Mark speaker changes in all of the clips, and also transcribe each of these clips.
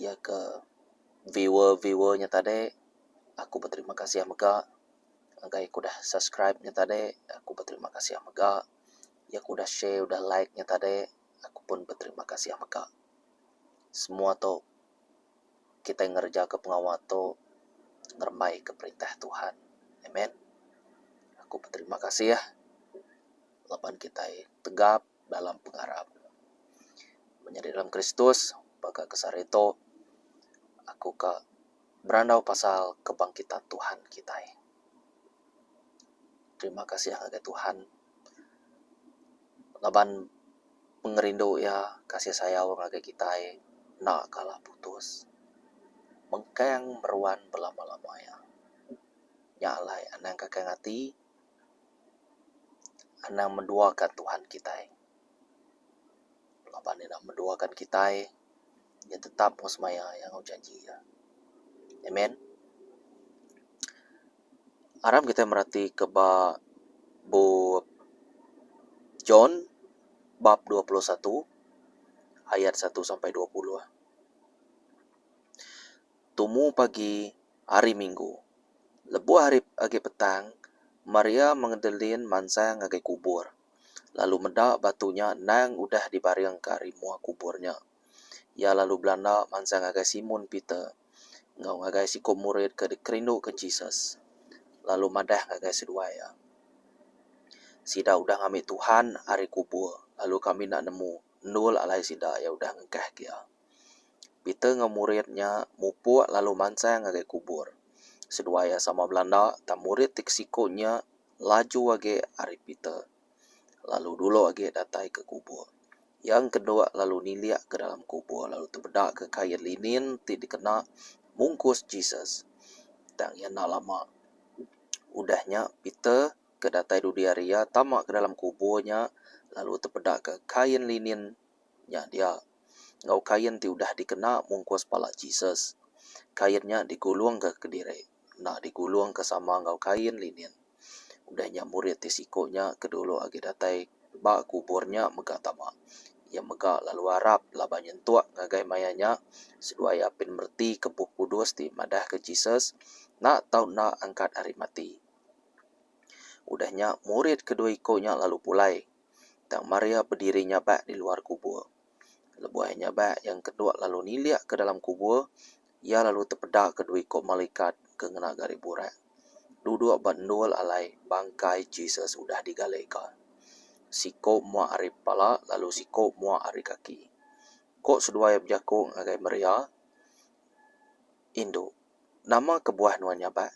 Speaker 1: iya ke viewer viewer nya tadi aku beterima kasih mega ngagai aku dah subscribe nya tadi aku beterima kasih mega iya ke udah share udah like nya tadi aku pun beterima kasih mega semua tu kitai ngereja ke pengawa tu ngerembai ke perintah Tuhan amen aku beterima kasih laban kitai tegap. dalam pengarap. Menyadi dalam Kristus, baka ke sehari tu, aku ka berandau pasal kebangkitan Tuhan kitai. Terima kasih ngagai Tuhan ngaban pengerindu iya, kasih sayau ngagai kitai enda kala putus. Mengkang meruan belama-lama iya. Nya alai anang ka kail ati. Anang menduakan Tuhan kitai. Laban iya menduakan kitai, iya tetap engku semaya iya enggau janji iya. Amen. Aram kitai meratika ba bup John bab dua puluh satu ayat satu sampai dua puluh. tumu pagi Hari Minggu. Lebuh hari agi petang, Maria Magdalene mansang ngagai kubur, lalu meda batu nya endang udah dibaringka ari mua kubur nya. Iya lalu belanda mansang ngagai Simon Peter enggau ngagai siko murid ke dikerinduka Jesus, lalu madah ngagai seduai iya, Sida udah ngambi Tuhan ari kubur, lalu kami enda nemu endul alai sida iya udah ngengkahka iya. Peter enggau murid nya mupuk lalu mansang ngagai kubur. Seduai iya sama belanda, tang murid ti ke siku nya laju agi ari Peter, lalu dulu agi datai ke kubur. Iya engkeduk lalu nilik ke dalam kubur lalu tebedaka kain linin ti dikena mungkus Jesus. Tang iya enda lama udah nya, Peter ke datai dudi ari iya tama ke dalam kubur nya lalu tebedaka kain linin nya dia. enggau kain ti udah dikena mungkus pala Jesus. Kain nya digulungka kediri enda digulungka sama enggau kain linin. Udah nya murid ti siku nya ke dulu agi datai ba kubur nya mega tama. Iya mega lalu arap laban nyentuk ngagai maya nya seduai iya apin meretika Bup Kudus ti madahka Jesus enda tau enda angkat ari mati. Udah nya murid kedua iku nya lalu pulai. tang Maria bediri nyabak di luar kubur. Lebuh nyabak iya engkeduk lalu nilik ke dalam kubur, iya lalu tepedaka dua iku malikat ke ngena gari burak duduk ba endul alai bangkai Jesus udah digalika. Siku mua ari pala lalu siku mua ari kaki. Ku seduai bejaku ngagai Maria, Indu, nama kebuah nuan nyabak?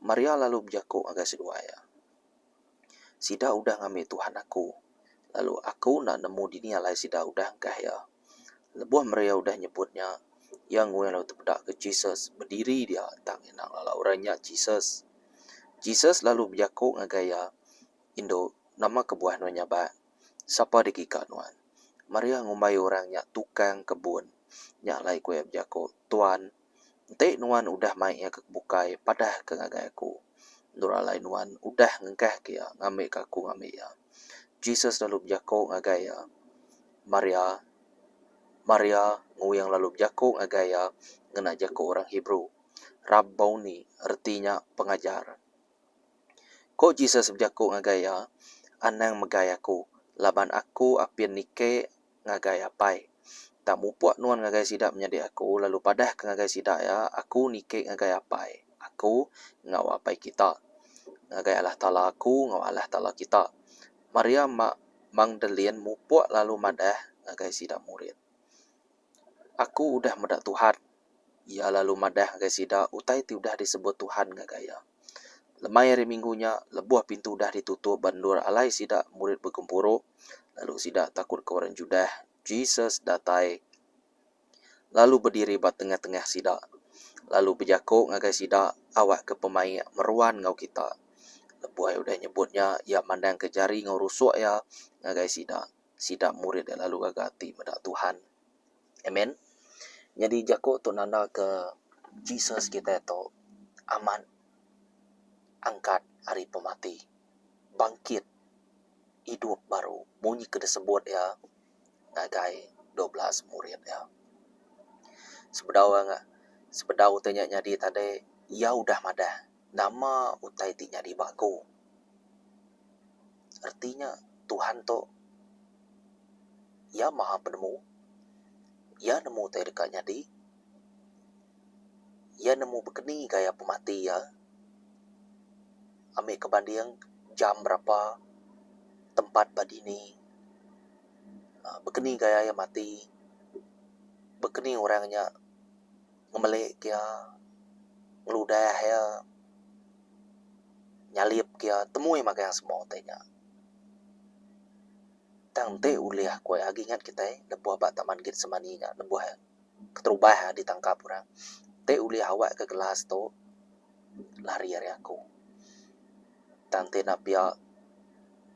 Speaker 1: Maria lalu bejaku ngagai seduai iya. Sida udah ngambi tuhan aku, lalu aku enda nemu dini alai sida udah engkah iya. Lebuh Maria udah nyebut nya, iya nguih lalu tepeda ke Jesus, bediri dia tang iya enda ngelala orang nya Jesus. Jesus lalu bejaku ngagai iya, Indu, nama kebuah nuan nyabak? Sapa dikika nuan? Maria ngumbai orang nya tukang kebun nya alai ku iya bejaku, Tuan, Enti nuan udah mai iya ke bukai, padahka ngagai aku. Endur alai nuan udah ngengkahka iya ngambika aku ngambi iya. Jesus lalu bejaku ngagai iya, Maria! Maria! Nguing lalu bejaku ngagai iya ngena jaku orang Hebrew, Rabbouni, reti nya Pengajar. Ku Jesus bejaku ngagai iya, Anang megai aku, laban aku apin nike ngagai Apai. Tang mupuk nuan ngagai sida menyadi Aku, lalu padahka ngagai sida iya, Aku niki ngagai Apai Aku enggau Apai kita, ngagai Allah Taala Aku enggau Allah Taala kita. Maria Mak Magdalene mupuk lalu madah ngagai sida murid, Aku udah meda Tuhan. Iya lalu madah ngagai sida utai ti udah disebut Tuhan ngagai iya. Lemai hari Minggu nya, lebuh pintu udah ditutup ba endur alai sida murid begempuru, lalu sida takut ke orang Judah, Jesus datai lalu bediri ba tengah-tengah sida, lalu bejako ngagai sida, Awakka pemaik meruan enggau kita. Lebuh iya udah nyebut nya, iya mandangka jari enggau rusuk iya ngagai sida. Sida murid iya lalu gaga ati meda Tuhan. Amen. Nyadi jaku tu nanda ke Jesus kitai tu amat angkat ari pemati, bangkit idup baru munyi ke disebut iya ngagai dua belas murid iya. Sebedau sebedau ti nya nyadi tadi iya udah madah. Nama utai ti nyadi ba aku? Reti nya Tuhan tu Iya Maha Penemu. Iya nemu utai deka nyadi. Iya nemu bekeni gaya pemati iya. Ami ke banding jam berapa, tempat ba dini, bekeni gaya iya mati, bekeni orang nya. ngemelik iya, ngeludah iya, nyalip iya temui magang semua utai nya. Tang enti ulih ku iya agi ingat kitai lebuh ba Taman Getsemani nya lebuh keterubah iya ditangkap orang, enti ulih awak ka gelas tu lari ari aku. Tang enti enda pia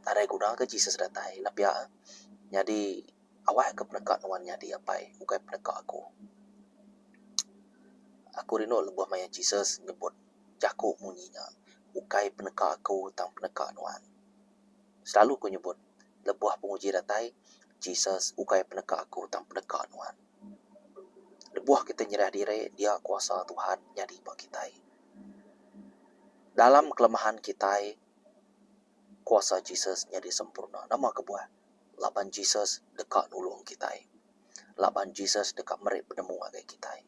Speaker 1: nadai guna ka Jesus datai enda pia nyadi. Awak aku peneka nuan nyadi apai ukai peneka aku. Aku rindu lebuh maya Jesus nyebut jaku munyi nya, Ukai peneka aku tang peneka nuan. Selalu aku nyebut lebuh penguji datai, Jesus ukai peneka aku tang peneka nuan. Lebuh kitai nyerah diri dia kuasa Tuhan nyadi ba kitai. Dalam kelemahan kitai kuasa Jesus nyadi sempurna. Nama kebuah? Laban Jesus deka nulung kitai. Laban Jesus deka meri penemu ngagai kitai.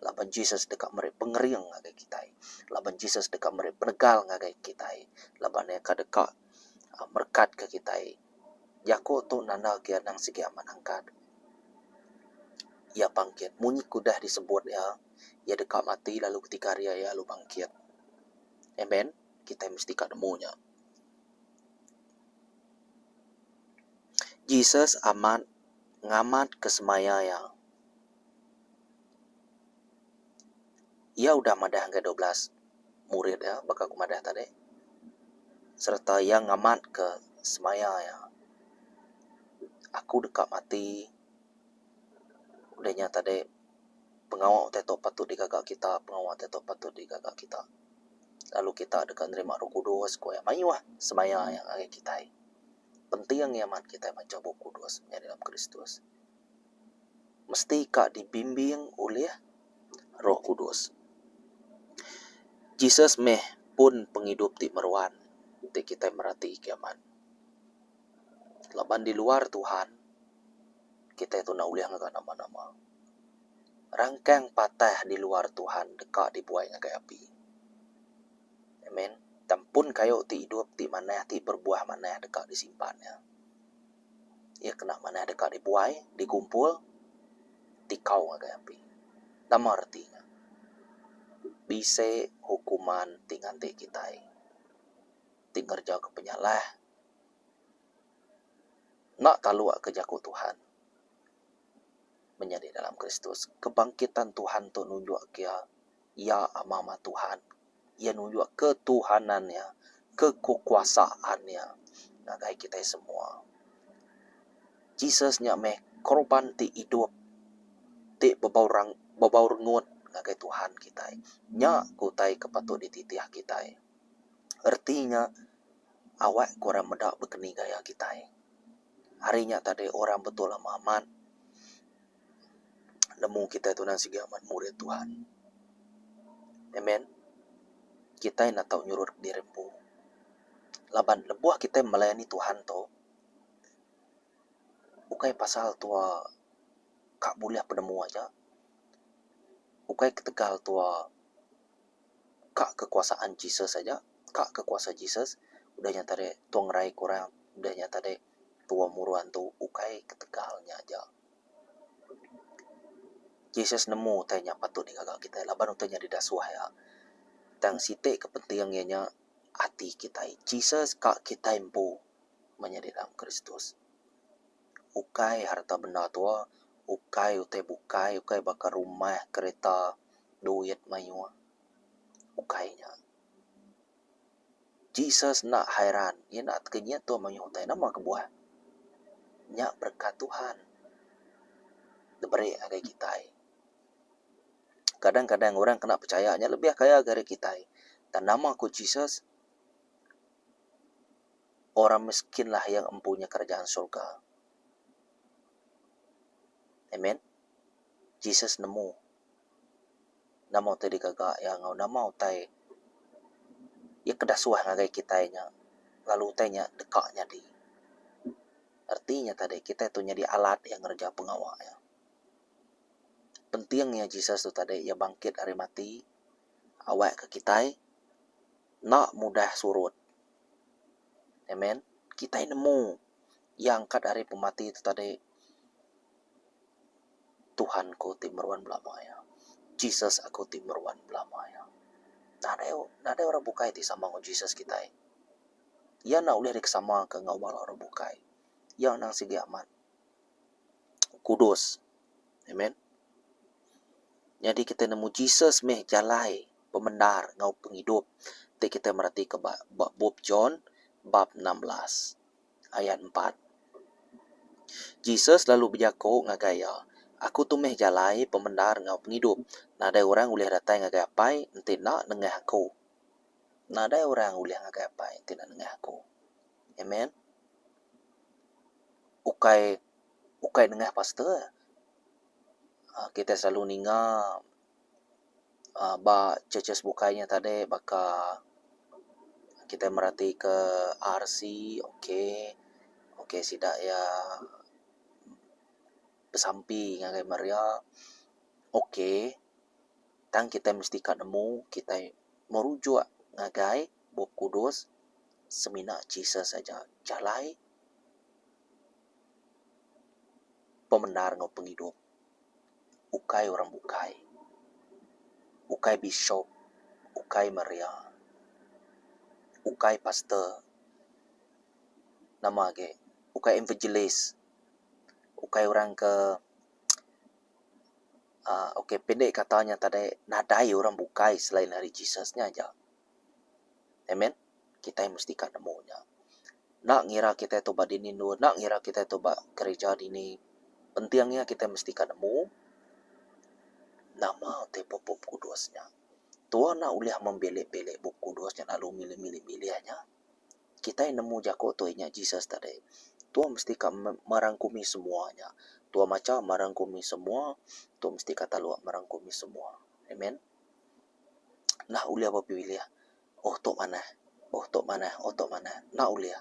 Speaker 1: Laban Jesus deka meri pengering ngagai kitai. Laban Jesus deka meri penegal ngagai kitai. Laban Iya ka deka merekatka kitai. Jaku tu nanda ke anang sigi amat angkat. Iya bangkit. Munyi ke udah disebut Iya, Iya deka mati lalu ketiga hari Iya lalu bangkit. Amen. Kitai mesti ka nemu nya. Jesus amat ngamatka semaya iya. Iya udah madah ngagai dua belas murid iya baka aku madah tadi sereta iya ngamatka semaya iya. Aku deka mati udah nya tadi. pengawa utai tu patut digaga kita, pengawa utai tu patut digaga kita. Lalu kita deka nerima Roh Kudus ku Iya mayuh semaya Iya ngagai kitai. Penting iya mat kitai macha Bup Kudus maya dalam Kristus. Mesti ka dibimbing ulih Roh Kudus. Jesus meh pun pengidup ti meruan ti kitai merati kimet. Laban di luar Tuhan, kitai tu enda ulih ngaga nama-nama. Rangkang patah di luar Tuhan deka dibuai ngagai api. Amen. Tang pun kayu ti idup ti manah ti berbuah manah deka disimpan iya. Iya kena manah deka dibuai, digumpul, dikau ngagai api. Nama reti nya? Bisi hukuman ti nganti kitai ti ngereja ke penyalah. Enda taluk ke jaku Tuhan. Menyadi dalam Kristus, kebangkitan Tuhan tu nunjuk ke Iya ama-ama Tuhan. Iya nunjuk ketuhanan Iya, kekuasaan Iya ngagai kitai semua. Jesus nya meh korban ti idup, ti bebau rang, bebau rengut ngagai Tuhan kitai. Nya ke utai ke patut dititih kitai. Reti nya. Awak ku orang meda bekeni gaya kitai. Hari nya tadi orang betul ama amat nemu kitai tu nan sigi amat murid Tuhan. Amen. Kitai enda tau nyurut ke diri empu. Laban lebuh kitai melayani Tuhan tu ukai pasal tuwa ka bulih penemu aja. Ukai ketegal tuwa. Ka kekuasaan Jesus aja, ka ke kuasa Jesus, udah nya tadi tua ngerai ke orang, udah nya tadi tua muru antu ukai ketegal nya aja. Jesus nemu utai nya patut digaga kitai laban utai nya deda suah iya. Tang siti ke penting iya nya ati kitai. Jesus ka kitai empu menyadi dalam Kristus. ukai harta benda tua, ukai utai bukai, ukai baka rumah, kereta, duit mayuh. Ukai nya. Jesus enda hairan, iya enda tega nyin tua mayuh utai. Nama kebuah? Nya berekat Tuhan diberi ngagai kitai. Kadang kadang orang kena pechaya nya lebih kaya ngagai diri kitai. Tang nama ku Jesus? Orang miskinlah yang empunya kerajaan surga. Amen. Jesus nemu nama utai digaga iya enggau nama utai iya ke dasuah ngagai kitai nya lalu utai nya deka nyadi. Reti nya tadi kitai tu nyadi alat iya ngereja pengawa iya. Penting iya Jesus tu tadi iya bangkit ari mati awakka kitai enda mudah surut. Amen. Kitai nemu Iya angkat ari pemati tu tadi. Tuhan ku ti meruan belama iya. Jesus aku ti meruan belama iya. Nadai nadai orang bukai ti sama enggau Jesus kitai. Iya enda ulih dikesamaka enggau bala orang bukai. Iya anang sigi amat kudus. Amen. Nyadi kita nemu Jesus meh jalai pemendar enggau pengidup ti kita meratika ba ba bup John bab enam belas ayat empat. Jesus lalu bejaku ngagai iya, Aku tu meh jalai pemendar enggau pengidup. Nadai orang ulih datai ngagai Apai enti enda nengah aku. Nadai orang ulih ngagai Apai enti enda nengah aku. Amen. Ukai. Ukai nengah pastor, kitai selalu ninga ba churches bukai nya tadi baka kitai meratika RC ok, ok sida iya besampi ngagai Maria ok. Tang kitai mesti ka nemu kitai merujuk ngagai Bup Kudus semina Jesus aja jalai. pemendar enggau pengidup ukai orang bukai, ukai bishop, ukai maria, ukai pastor, nama agi ukai evangelist, ukai orang ke aaa ok pendek kata nya tadi nadai orang bukai selain ari Jesus nya aja. Amen. Kitai mesti ka nemu nya. Enda ngira kitai tu ba dini endur, enda ngira kitai tu ba gereja dini, penting iya kitai mesti ka nemu nama ti ba Bup Kudus nya. Tuhan enda ulih membilik-bilik Bup Kudus nya lalu milih-milih-milih nya. Kitai nemu jaku tu inya Jesus tadi. Tuhan mesti ka merangkumi semua nya. Tuhan macha merangkumi semua, tuhan mesti ka taluk merangkumi semua. Amen. Enda ulih bepilih pilih. Oh tu manah. Oh tu manah. Oh tu manah. Enda ulih.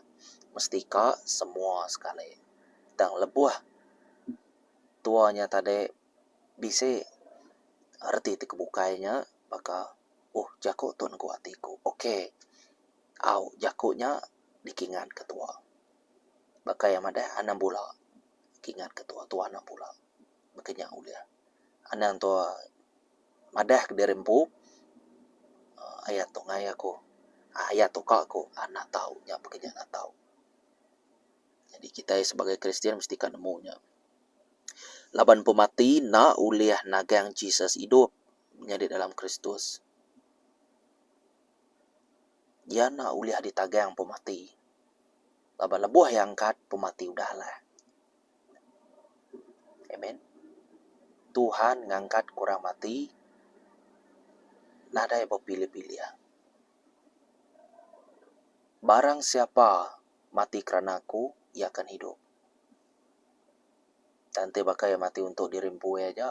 Speaker 1: Mesti ka semua sekali. Tang lebuh tua nya tadi bisi reti ti kebukai nya baka oh jaku tu nengku ati ku. Ok au jaku nya dikingat ke tua. Baka iya madah anang bula kingat ke tua, tua anang bula. Baka nya ulih. Anang tua. Madah kediri empu, Aya tu ngai aku, aya tu ka aku anak tau nya baka nya anak tau. Jadi kitai sebagai Kristian mesti ka nemu nya. Laban pemati enda ulih nagang Jesus idup nyadi dalam Kristus. Iya enda ulih ditagang pemati. Laban lebuh iya angkat, pemati udah lah. Amen. Tuhan ngangkat ke orang mati nadai bepilih-pilih. Barang siapa mati kerana aku, iya akan hidup. Tang enti baka iya mati untuk diri empu iya aja,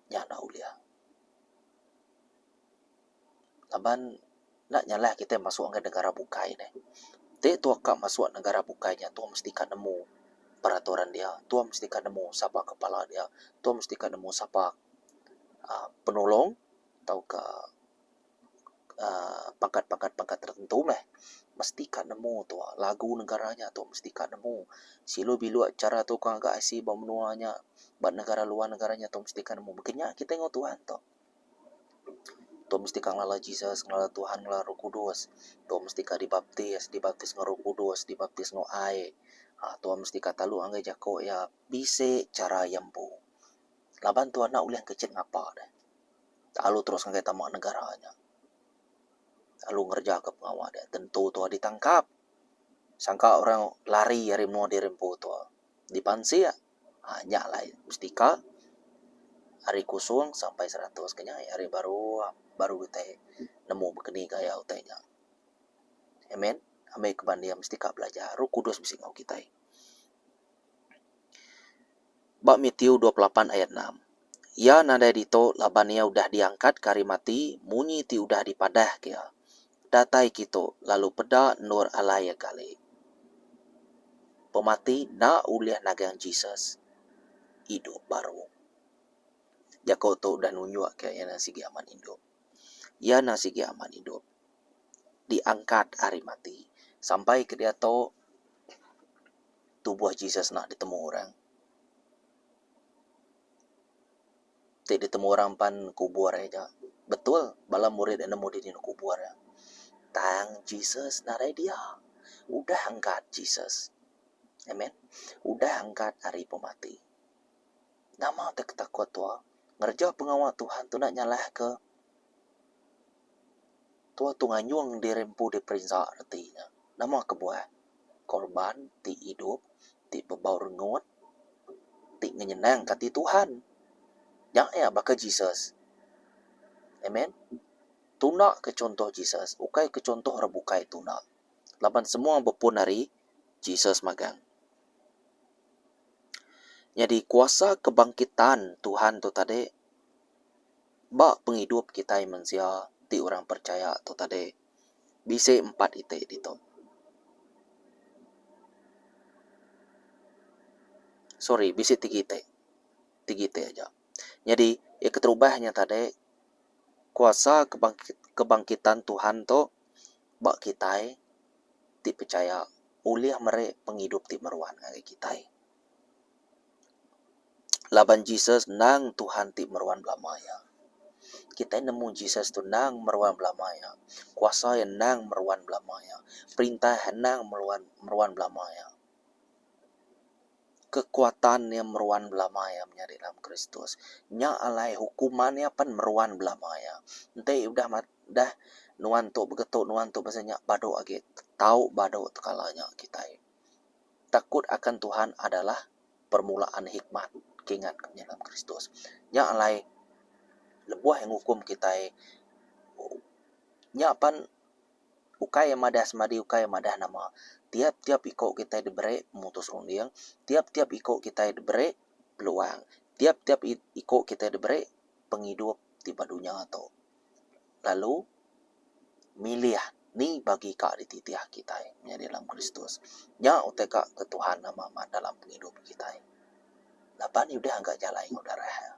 Speaker 1: nya enda ulih. laban enda nyalah kitai masuk ngagai negara bukai nih. Ti tuah ka masuk negara bukai nya tuah mesti ka nemu peraturan dia, tuah mesti ka nemu sapa kepala dia, tuah mesti ka nemu sapa aaa penulung tauka aaa pangkat-pangkat pangkat tertentu meh. Mesti ka nemu tuah lagu negara nya tuah mesti ka nemu. Silu biluk chara tuka ngaga IC ba menua nya, ba negara luar negara nya tuah mesti ka nemu. Baka nya kitai enggau tuan tu. Dok mesti ka ngelala Jesus, ngelala Tuhan, ngelala Roh Kudus. Dok mesti ka dibaptis, dibaptis enggau Roh Kudus, dibaptis enggau ai. Aa tuan mesti ka telu ngagai jako iya bisi chara iya empu. Laban tuan enda ulih kechet ngapa deh. Lalu terus ngagai tama negara nya. Lalu ngereja ka pengawa deh. Tentu tuan ditangkap. Sangka orang lari ari menua diri empu tuan. Dipansik. Aaa nya alai mesti ka ari kosong sampai seratus ke nya ari baru baru utai nemu bekeni gaya utai nya. Amen ami ke bani iya mesti ka belajar Roh Kudus bisi enggau kitai. Ba Mathew dua puluh lapan ayat enam Iya nadai ditu laban iya udah diangkatka ari mati munyi ti udah dipadahka iya. datai kitu lalu peda endur alai iya kali. Pemati enda ulih nagang Jesus idup baru. Jaku tu udah nunjuk ke iya enda sigi amat idup. Iya enda sigi amat idup. Diangkat ari mati. Sampai ke diatu tubuh Jesus enda ditemu orang. ti ditemu orang pan kubur iya ja. Betul bala murid iya nemu dini neg kubur iya. Tang Jesus narai dia. Udah angkat Jesus. Amen. Udah angkat ari pemati. Nama ti ketakut tua? Ngereja pengawa Tuhan tu enda nyalahka Tua tu nganyung diri empu diperinsa reti nya. Nama kebuah? Korban ti idup, ti bebau rengut, ti ngenyenangka ati Tuhan. Nya iya baka Jesus. Amen. Tundaka chunto Jesus, ukaika chunto orang bukai tunda. Laban semua bepun ari Jesus magang. Nyadi kuasa kebangkitan Tuhan tu tadi Ba pengidup kitai mensia ti orang percaya tu tadi, bisi empat iti ditu. Sorry, bisi tiga iti. Tiga iti aja. Nyadi, iya keterubah nya tadi, kuasa kebangkit kebangkitan Tuhan tu ba kitai ti percaya ulih meri pengidup ti meruan ngagai kitai. Laban Jesus endang Tuhan ti meruan belama iya. Kitai nemu Jesus tu endang meruan belama iya. Kuasa iya endang meruan belama iya. Perintah iya endang meruan meruan belama iya. Kekuatan iya meruan belama iya menyadi dalam Kristus. Nya alai hukuman iya pen meruan belama iya. Enti udah mat udah nuan tu begetu nuan tu basa nya badu agi tau badu tekala nya kitai. Takut akan Tuhan adalah permulaan hikmat, ke ingat ku nyelam Kristus. Nya alai lebuh ngukum kitai nya pan ukai madah semadi ukai madah nama. Tiap-tiap iko kitai diberi mutus runding, tiap-tiap iko kitai diberi peluang, tiap-tiap iko kitai diberi pengidup ti ba dunya tu. lalu milih ni bagi ka dititih kitai menyadi dalam Kristus. Nya utai ka ke Tuhan nama amat dalam pengidup kitai. Laban iya udah ngaga jalai enggau darah iya.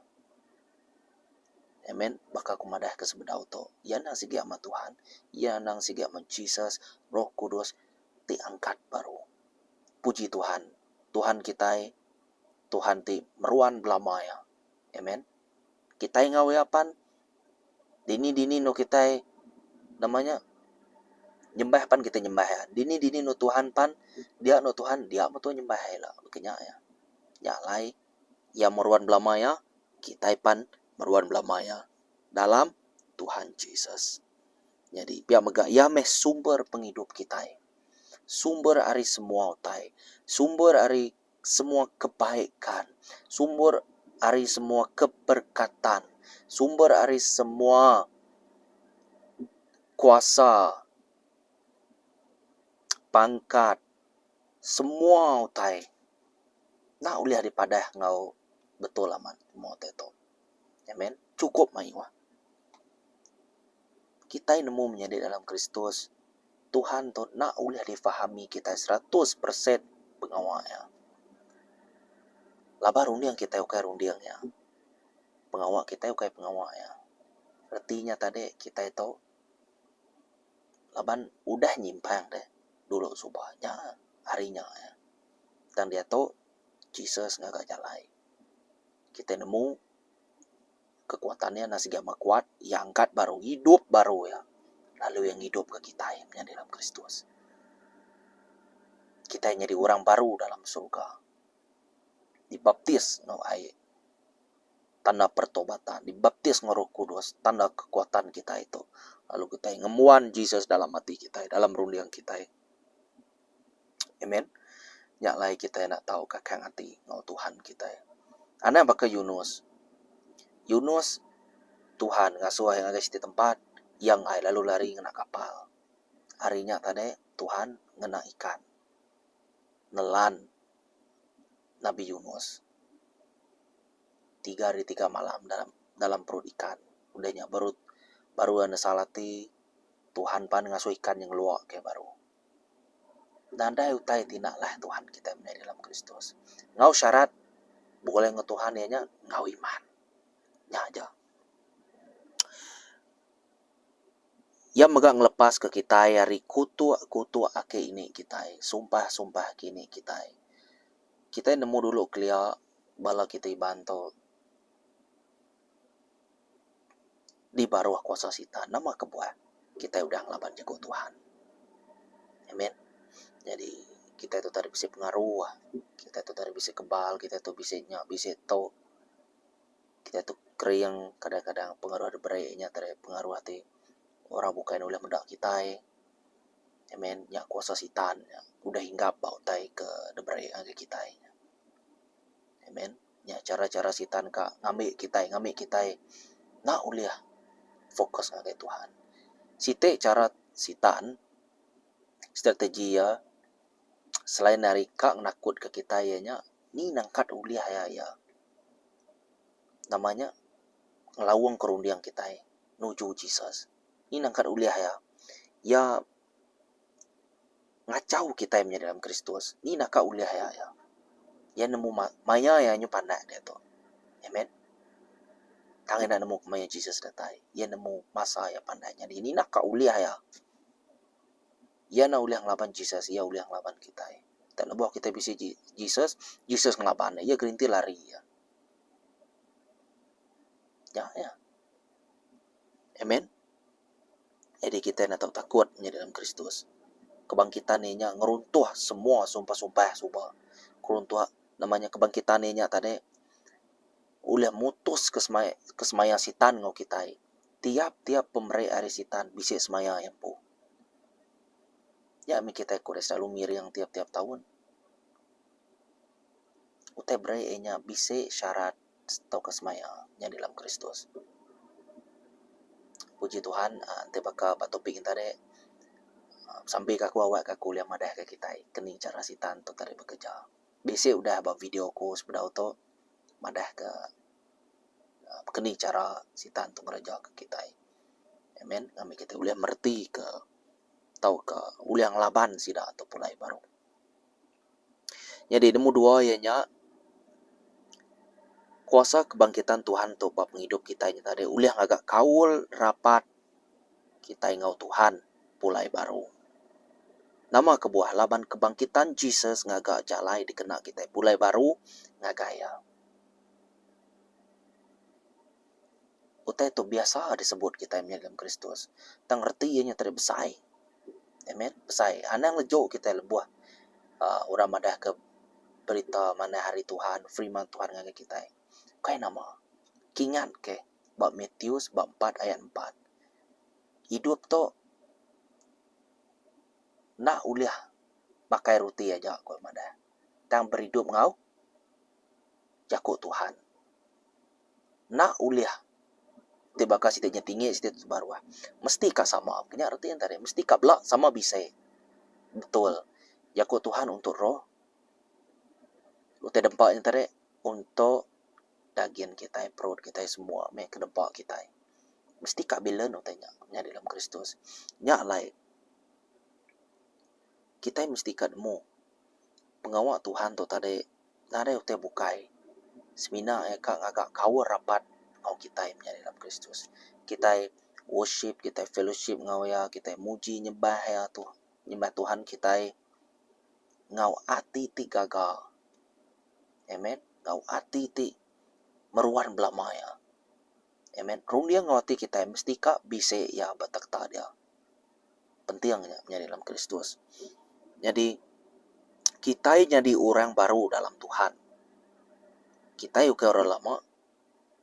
Speaker 1: Amen. Baka aku madah ke sebedau tu, iya endang sigi amat Tuhan, iya endang sigi amat Jesus, Roh Kudus ti angkat baru. Puji Tuhan, Tuhan kitai Tuhan ti meruan belama iya. Amen. kitai enggau iya pan dini dini nu kitai nama nya nyembah pan kitai nyembah iya dini dini nu Tuhan pan dia nu Tuhan dia metu nyembah iya ila baka nya iya. Nya alai iya meruan belama iya kitai pan meruan belama iya dalam Tuhan Jesus. Nyadi pia mega iya meh sumber pengidup kitai. Sumber ari semua utai sumber ari. semua kebaikan, sumber ari semua keberkatan, sumber ari semua kuasa, pangkat, semua utai enda ulih dipadah enggau betul amat semua utai tu. Amen. Chukup mayuh. Kitai nemu menyadi dalam Kristus, Tuhan tu enda ulih difahami kitai seratus persen pengawa Iya. Laban runding kitai ukai runding Iya. Pengawa kitai ukai pengawa Iya. Reti nya tadi kitai tu laban udah nyimpang deh dulu suba nya hari nya. Tang diatu Jesus ngaga jalai. Kitai nemu kekuatan iya enda sigi amat kuat, iya angkat baru idup baru iya, lalu iya ngidupka kitai menyadi dalam Kristus. Kitai nyadi orang baru dalam surga, dibaptis enggau ai, tanda pertobatan, dibaptis enggau Roh Kudus, tanda kekuatan kitai tu, lalu kitai ngembuan Jesus dalam ati kitai, dalam runding kitai. Amen. Nya alai kitai enda tau kakang ati enggau Tuhan kitai. Anang baka Yunus. Yunus Tuhan ngasuh iya ngagai siti tempat iya enggai lalu lari ngena kapal. Hari nya tadi Tuhan ngena ikan nelan Nabi Yunus tiga hari tiga malam dalam dalam perut ikan. Udah nya baru baru iya nesal ati Tuhan pan ngasuh ikan nya ngelua ke baru. Nadai utai ti enda alah Tuhan kitai menyadi dalam Kristus. Enggau syarat begulai enggau Tuhan iya nya enggau iman. Nya aja. Iya mega ngelepaska kitai ari kutuk-kutuk aki ini kitai, sumpah-sumpah aki ini kitai. Kitai nemu dulu kelia bala kitai Iban tu. di baruh kuasa Sitan nama kebuah kitai udah ngelaban jaku Tuhan. Amen. Nyadi kitai tu tadi bisi pengaru, kitai tu tadi bisi kebal, kitai tu bisi nya bisi tu. Kitai tu kering kadang-kadang pengaruh da bere nya tadi pengaruh ti orang bukai ne ulih meda kitai. Amen. Nya kuasa Sitan nya udah hinggap ba utai ke da bere ngagai kitai. Amen. Nya chara-chara Sitan ka ngambi kitai ngambi kitai enda ulih fokus ngagai Tuhan. Siti chara Sitan, strategi iya, selain ari ka nakutka kitai iya nya, ni nangkat ulih aya iya? Nama nya? Ngelaungka runding kitai nuju Jesus. Ni nangkat ulih iya? Iya. ngachau kitai menyadi dalam Kristus, ni naka ulih iya nya? Iya nemu ma, maya iya nyu panah diatu. Amen. Tang enda nemu kemaya Jesus datai. Iya nemu masa iya panah nyadi. Ni naka ulih iya? Iya enda ulih ngelaban Jesus, iya ulih ngelaban kitai. Nta lebuh kitai bisi ji, Jesus, Jesus ngelaban iya. Iya gerinti lari iya. Nya iya. Amen. Nyadi kitai enda tau takut meh nyadi dalam Kristus. Kebangkitan Iya nya ngeruntuh semua sumpah-sumpah suba. Keruntuh nama nya kebangkitan Iya nya tadi ulih mutus ke semaya ke semaya Sitan enggau kitai. Tiap-tiap pemeri ari Sitan bisi semaya iya empu. Nya meh kitai ku deh selalu ngiring tiap-tiap taun. Utai beri iya nya bisi syarat. tauka semaya nya di dalam Kristus. Puji Tuhan aaa enti baka ba topik nyen tadi aaa besambi ka aku awakka aku ulih madahka kitai keni chara Sitan tu tadi bekereja. Bisi udah ba video aku sebedau tu madahka aaa keni chara Sitan tu ngerejaka kitai. Amen. Ngambika kitai ulih meretika tauka ulih ngelaban sida tu pulai baru. Nyadi nemu dua iya nya kuasa kebangkitan Tuhan tu ba pengidup kitai nya tadi ulih ngaga kaul rapat kitai enggau Tuhan pulai baru. Nama kebuah laban kebangkitan Jesus ngaga jalai dikena kitai pulai baru ngagai iya. Utai tu biasa disebut kitai mih lem Kristus tang reti iya nya tadi besai. Amen. Besai. Anang leju kitai lebuh aaa orang madahka berita manah ari Tuhan, firman Tuhan ngagai kitai. Kai nama. Kingatke ba Matius bab empat ayat empat. Idup tu enda ulih makai roti aja ku orang madah tang beridup enggau jaku Tuhan. enda ulih ti baka siti nya tinggi siti nya baruh. Mesti ka sama. Nya reti ntah dih. Mesti ka bela sama bisi. Betul. Jaku Tuhan untuk roh. Utai dempa nya ntah dih untuk dagin kitai, perut kitai semua meh ke dempa kitai. Mesti ka bilance utai nya nyadi dalam Kristus. Nya alai kitai mesti ka nemu pengawa Tuhan tu tadi. Nadai utai bukai, semina iya ka ngaga kaul rapat enggau kitai menyadi dalam Kristus. Kitai worship, kitai fellowship enggau iya, kitai muji nyembah iya tu, nyembah Tuhan kitai enggau ati ti gaga. Amen. Enggau ati ti meruan belama iya. Amen. Runding enggau ati kitai mesti ka bisi iya ba takhta dia. penting nya menyadi dalam Kristus. Nyadi kitai nyadi orang baru dalam Tuhan. Kitai ukai orang lama,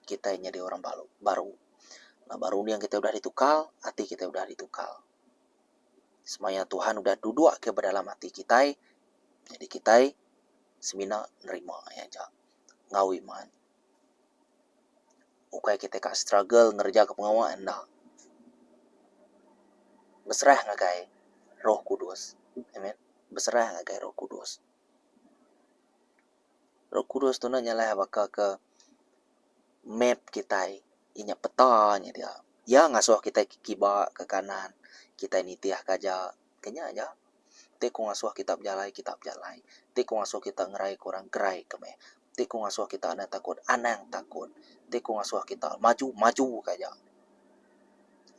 Speaker 1: kitai nyadi orang baru. Baru laban runding kitai udah ditukar, ati kitai udah ditukar. Semaya Tuhan udah duduk ke dalam ati kitai, jadi kitai semina nerima iya aja. Ngawi man. Ukai kitai ka struggle ngerejaka pengawa enda. Beserah ngagai roh kudus. Amen. Beserah ngagai roh kudus. Roh kudus tu enda nyalah baka ke map kitai. Inya peta nya dia. Iya ngasuh kitai ke kiba, ke kanan. Kitai nitih ke aja. Ke nya aja. Ti ku ngasuh kita bejalai, kita bejalai. Ti ku ngasuh kita ngerai ke orang, gerai ke meh. Ti ku ngasuh kita anang takut, anang takut. Ti ku ngasuh kita maju, maju ke aja.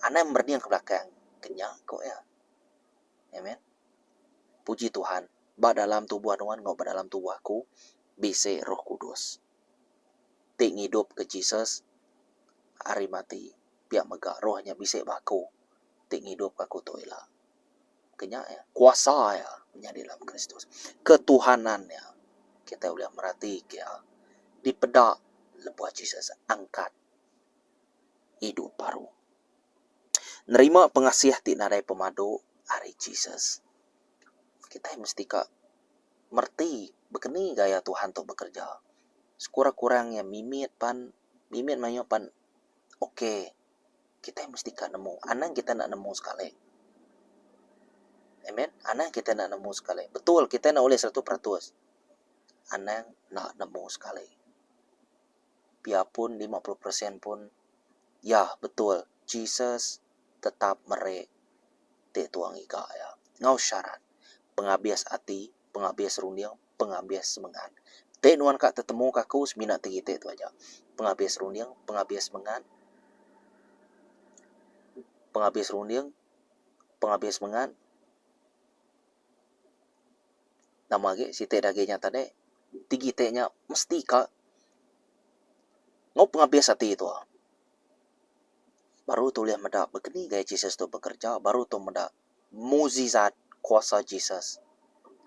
Speaker 1: Anang merening ke belakang ke nya, ku iya. Amen. Puji Tuhan, ba dalam tubuh nuan enggau ba dalam tubuh aku, bisi Roh Kudus ti ngidupka Jesus ari mati. Pia mega Roh nya bisi ba aku, ti ngidupka aku tu ila. Ke nya iya, kuasa iya menyadi dalam Kristus. Ketuhanan iya. Kitai ulih meratika iya dipeda lebuh Jesus angkat idup baru. Nerima pengasih ti nadai pemadu ari Jesus, kitai mesti ka mereti bekeni gaya Tuhan tu bekereja. Sekurang-kurang iya mimit pan, mimit mayuh pan okay. kitai mesti ka nemu, anang kitai enda nemu sekali. Amen. Anang kitai enda nemu sekali. Betul kitai enda ulih seratus peratus. Anang enda nemu sekali. Pia pun lima puluh peresen pun, ya betul Jesus tetap meri ti tuang iga iya enggau syarat pengabis ati pengabis runding, pengabis semengan. Ti nuan ka tetemuka aku semina tegi ti tu aja. Pengabis runding, pengabis semengan, pengabis runding, pengabis semengan. Nama agi siti dagih nya tadi, ti kiti nya mesti ka enggau pengabis ati tu. Baru tu ulih meda begini gaya Jesus tu bekerja, baru tu meda Mukjizat kuasa Jesus.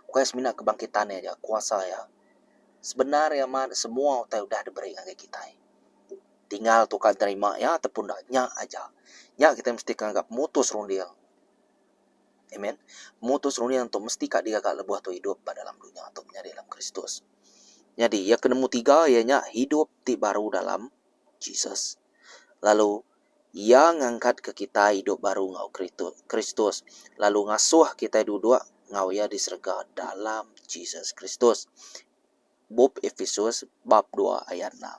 Speaker 1: Bukai semina kebangkitan iya aja, kuasa iya. Sebendar iya mat semua utai udah diberi ngagai kitai. Tinggal tuka nerima iya ataupun enda, nya aja. Nya kitai mesti ke ngaga pemutus runding. Amen. Pemutus runding tu mesti ka digaga lebuh tu idup ba dalam dunya tu menyadi dalam Kristus. Nyadi iya ke nemu tiga iya nya hidup ti baru dalam Jesus. Lalu. Iya ngangkatka kitai idup baru enggau Kristus, lalu ngasuh kitai duduk enggau Iya di serega dalam Jesus Kristus. Bup Episus bab dua ayat enam.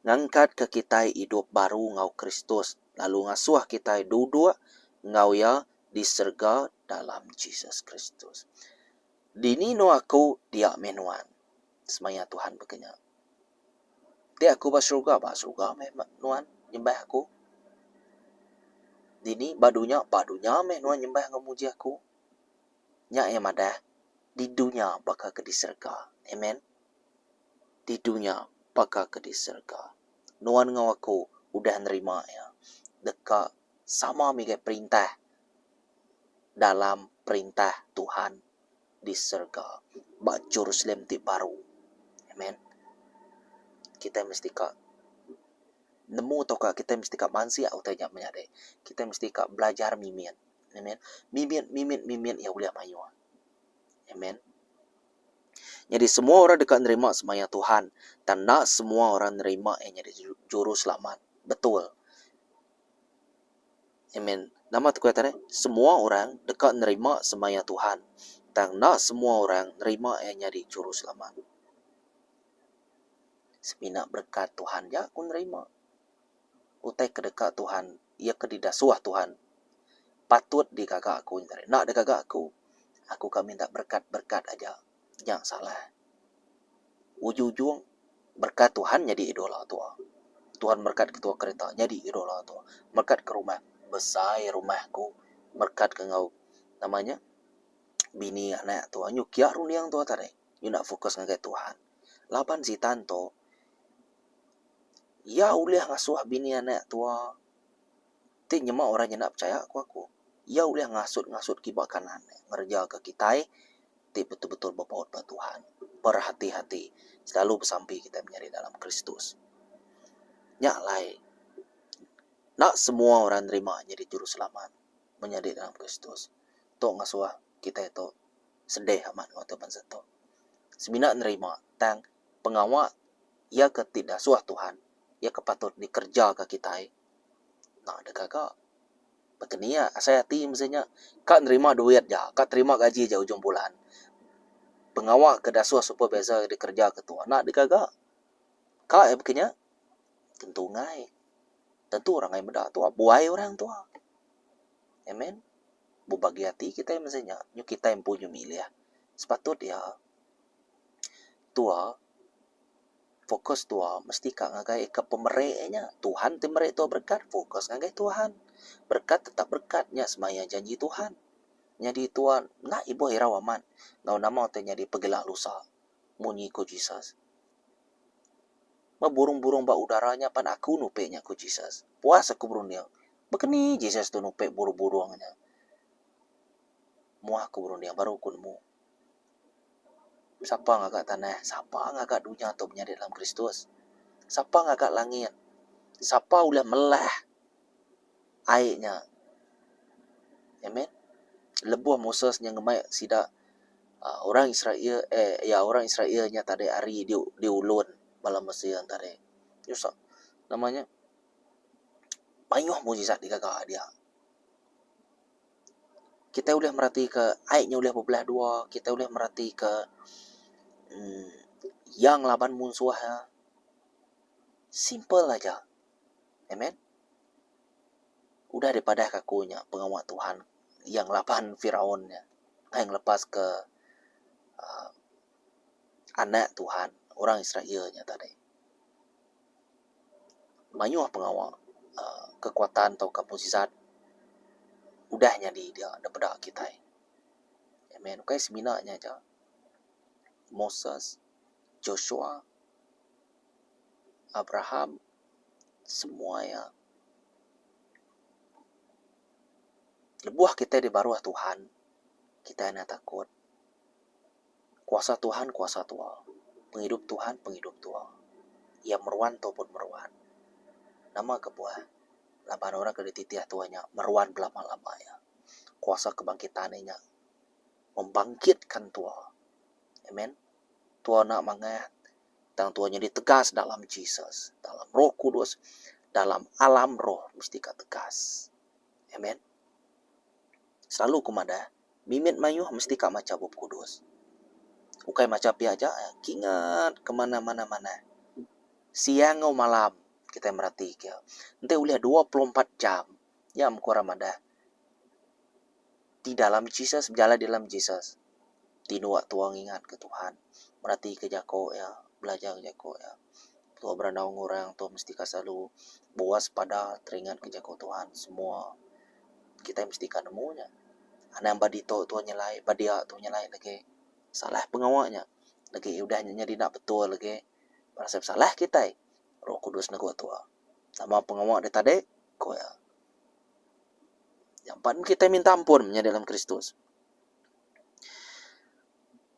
Speaker 1: Ngangkatka kitai idup baru enggau Kristus, lalu ngasuh kitai duduk enggau Iya di serega dalam Jesus Kristus. Dini enu aku dia meh nuan? Semaya Tuhan baka nya. Ti aku ba seruga, ba seruga meh nuan nyembah aku. Dini ba dunya, ba dunya meh nuan nyembah enggau muji aku. Nya iya madah, di dunya baka ke di serega. Amen. Di dunya baka ke di serega. Nuan enggau aku udah nerima iya deka sama mega perintah dalam perintah Tuhan. di serega ba Jerusalem ti baru. Amen. Kitai mesti ka nemu tauka kitai mesti ka mansik utai nya menyadi. Kitai mesti ka belajar mimit. Amen. Mimit, mimit, mimit iya ulih mayuh. Amen. Nyadi semua orang deka nerima semaya Tuhan. Tang enda semua orang nerima iya nyadi juruselamat. Betul. Amen. Nama tekuih tadi? Semua orang deka nerima semaya Tuhan, tang enda semua orang nerima Iya nyadi Juruselamat. Semina berekat Tuhan aja aku nerima. Utai ke deka Tuhan, iya ke didasuh Tuhan, patut digaga aku nya tadi. Enda digaga aku, aku ka minta berekat-berekat aja. Nya salah. Ujung-ujung berkat Tuhan nyadi idola tua. Tuhan berkat ketua kereta nyadi idola tua. Berkat ke rumah besai rumah ku. Berkat ke enggau nama nya bini anak tua. Nyu kia runding tua tadi. Nyu enda fokus ngagai Tuhan. Laban Sitan tu iya ulih ngasuh bini anak tua. Ti nyema orang nyena pechaya ku aku, iya ulih ngasut-ngasut kiba kanan ngerejaka kitai ti betul-betul bepaut ba Tuhan. Berhati-hati selalu besampi kitai menyadi dalam Kristus. Nya alai enda semua orang nerima nyadi juruselamat menyadi dalam Kristus. Tu ngasuh kitai tu sedih amat enggau tu bansa tu. Semina nerima tang pengawa iya ke ti dasuh Tuhan iya ke patut dikerejaka kitai. Enda deka ka. Baka ni iya asai ati mesti nya. Ka nerima duit ja, ka terima gaji ja ujung bulan. Pengawa ke dasuh supervisor dikereja ke tu enda deka ga. Ka iya baka nya. Tentu enggai. Tentu orang ai meda tu. Buai orang tu. Amen. Bebagi ati kitai mesti nya. Nyuh kitai empu nyuh milih. Sepatut iya tua. Fokus tua mesti ka ngagai ika pemeri nya. Tuhan ti meri tua berekat, fokus ngagai Tuhan. Berekat tetap berekat nya semaya janji Tuhan. Nyadi tua enda ibuh irau amat enggau nama ti nyadi pegela lusa. Munyi ku Jesus. Meh burung-burung ba udara nya pan aku nupi nya ku Jesus. Puas aku berunding. Baka ni Jesus tu nupi burung-burung nya? Moh aku berunding baru ku nemu. Sapa ngaga tanah? Sapa ngaga dunya tu menyadi dalam Kristus? Sapa ngaga langit? Sapa ulih melah ai nya? Amen. Lebuh Moses nya ngemai sida uhh orang Israel uhh iya orang Israel nya tadi ari di ulun bala Mesir tadi. Nyusah nama nya mayuh mujizat digaga dia. Kitai ulih meratika ai nya ulih bebelah dua, kitai ulih meratika uhh iya ngelaban munsuh iya. Simple aja. Amen. Udah dipadahka aku nya pengawa Tuhan iya ngelaban Firaun nya ai ngelepaska uhh anak Tuhan, orang Israel nya tadi. mayuh pengawa aaa kekuatan tauka mukjizat udah nyadi dia da peda kitai. Amen. Ukai semina nya aja, Moses, Joshua, Abraham, semua iya lebuh kitai dibaruh Tuhan, kitai enda takut. Kuasa Tuhan kuasa tua. Pengidup Tuhan pengidup tua. Iya meruan tua pun meruan. Nama kebuah laban orang ke dititih tua nya meruan belama-lama iya. Kuasa kebangkitan iya nya membangkitkan tua. Amen. Tua enda mangah tang tua nyadi tegas dalam Jesus, dalam Roh Kudus, dalam alam roh mesti ka tegas. Amen. Selalu ku madah. Mimit mayuh mesti ka macha Bup Kudus. Ukai macha pia aja, kingat ke manah-manah manah. Siang enggau malam kitai meratika. Enti ulih dua puluh empat jam, nya mung ku orang madah ti dalam Jesus, bejalai di dalam Jesus, ti nuwa tuah ngingatka Tuhan, meratika jaku iya, belajar jaku iya. Tuah berandau enggau orang, tuah mesti ka selalu buah sepada teringatka jaku Tuhan semua. Kitai mesti ka nemu nya. Anang ba ditu tu nyelai, ba dia tu nyelai lagi. Salah pengawa nya. Lagi iya udah nya nyadi enda betul lagi. Berasai besalah kitai. Roh Kudus negu tua. Nama pengawa deh tadi? ku iya. Jampat meh kitai minta ampun menyadi dalam Kristus.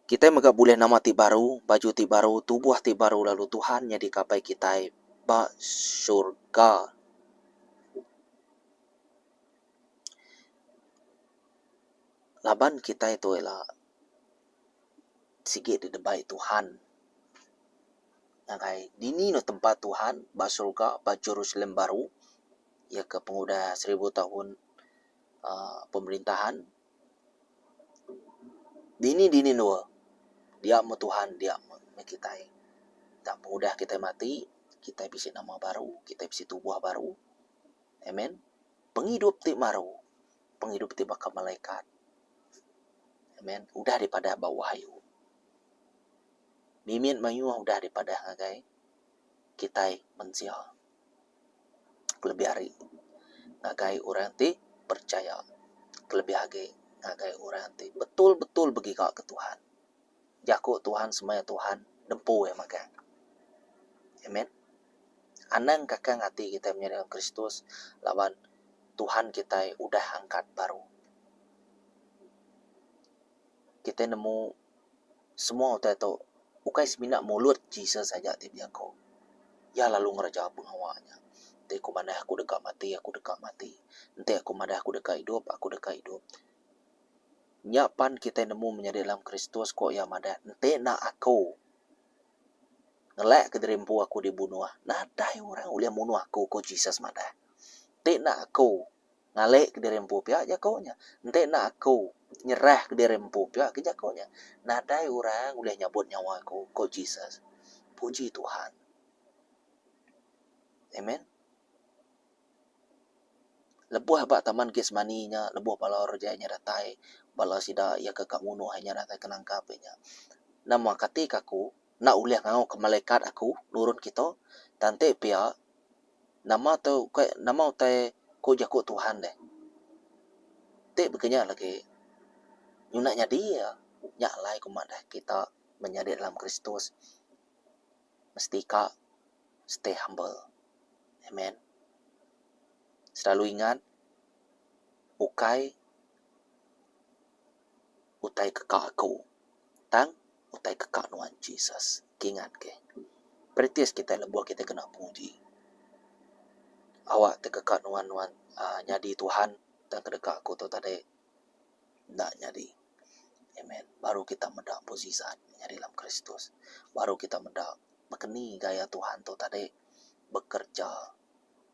Speaker 1: Kitai mega bulih nama ti baru, baju ti baru, tubuh ti baru lalu Tuhan nyadika apai kitai ba surga. laban kitai tu ila sigi didebai Tuhan ngagai dini ne tempat Tuhan ba surga ba Jerusalem Baru iya ke pengudah seribu taun aaa pemerintahan dini dini dua dia meh Tuhan dia meh kitai tang pengudah kitai mati kitai bisi nama baru kitai bisi tubuh baru. Amen. Pengidup ti baru, pengidup ti baka malaikat. Amen. Udah dipadah ba Wahyu. Mimit mayuh udah dipadah ngagai kitai mensia. Kelebih ari ngagai orang ti percaya. Kelebih agi ngagai orang ti betul-betul begiga ke Tuhan. Jaku Tuhan semaya Tuhan nempu iya megang. Amen. Anang kakang ati kitai menyadi dalam Kristus laban Tuhan kitai udah angkat baru. Kitai nemu semua utai tu ukai semina mulut Jesus aja ti bejaku. Iya lalu ngereja pengawa nya. Enti aku madah aku deka mati, aku deka mati. Enti aku madah aku deka idup, aku deka idup. Nya pan kitai nemu menyadi dalam Kristus, ku iya madah. Enti enda aku ngelakka diri empu aku dibunuh, nadai orang ulih munuh aku, ku Jesus madah. Enti enda aku ngalika diri empu pia, jaku nya. Enti enda aku nyerahka diri empu pia, ke jaku nya. Nadai orang ulih nyabut nyawa aku, ku Jesus. Puji Tuhan. Amen. Lebuh ba Taman Getsemani nya, lebuh bala orang jai nya datai, bala sida iya ke ka munuh inya datai ke nangkap inya. Nama kati ke aku enda ulih ngauka malekat aku nurun kita? Tanti pia, nama tu ukai nama utai ku jaku Tuhan deh? Ti bagi nya lagi, nyuna nyadi iya. Nya alai ku madah kita menyadi dalam Kristus. mesti ka stay humble. Amen. Selalu ingat ukai utai ke ka aku tang utai ke ka nuan Jesus. Kingat ke. Practice kitai lebuh kitai kena penguji. Awak ti ke ka nuan nuan uhh nyadi Tuhan tang ke deka aku tu tadi. enda nyadi amen baru kita meda mujizat nyadi dalam kristus baru kita meda bekeni gaya Tuhan tu tadi bekerja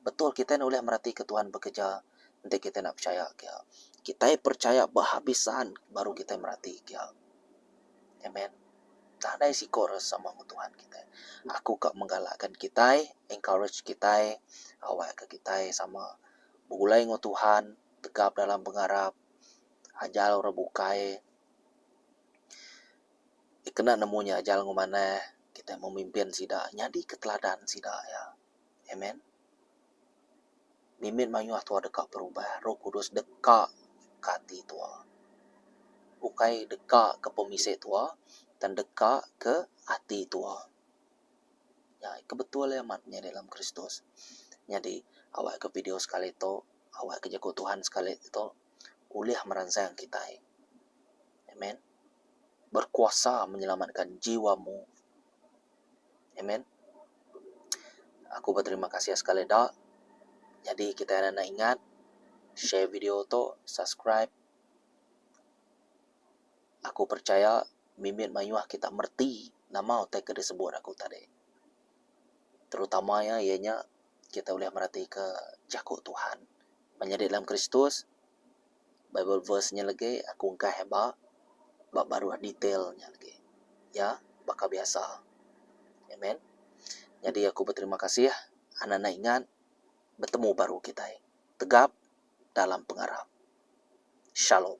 Speaker 1: betul kitai ulih meratika Tuhan bekerja enti kitai enda percaya kia kitai percaya behabisan baru kitai merati kia amen nadai siko rasa sama ngan Tuhan kitai aku ka menggalakkan kitai encourage kitai awakka kitai sama begulai ngan Tuhan. tegap dalam pengarap ajal orang bukai dikena nemu nya ajal enggau manah kita memimpin sida nyadi ke teladan sida iya. Amen. Mimit mayuh tuah deka berubah, roh kudus deka ke ati tuah. Ukai deka ke pemisik tuah, tang deka ke ati tuah. Nya ke betul iya amat nya dalam Kristus. Nyadi awak ke video sekali tu, awak ke jaku Tuhan sekali tu ulih meransang kitai. Amen. Berkuasa menyelamatkan jiwa mu. Amen. Aku beterima kasih sekali da. Nyadi kitai enda ingat share video tu, subscribe. Aku percaya mimit mayuh kita mereti nama utai ke disebut aku tadi. Terutama iya iya nya kita ulih meratika Jaku Tuhan. Ba nyadi dalam Kristus, Bible verse nya legi aku engkah iba ba baruh detail nya legi. Iya baka biasa. Amen. Nyadi aku beterima kasih anak enda ingat betemu baru kitai. Tegap dalam pengarap. Shalom.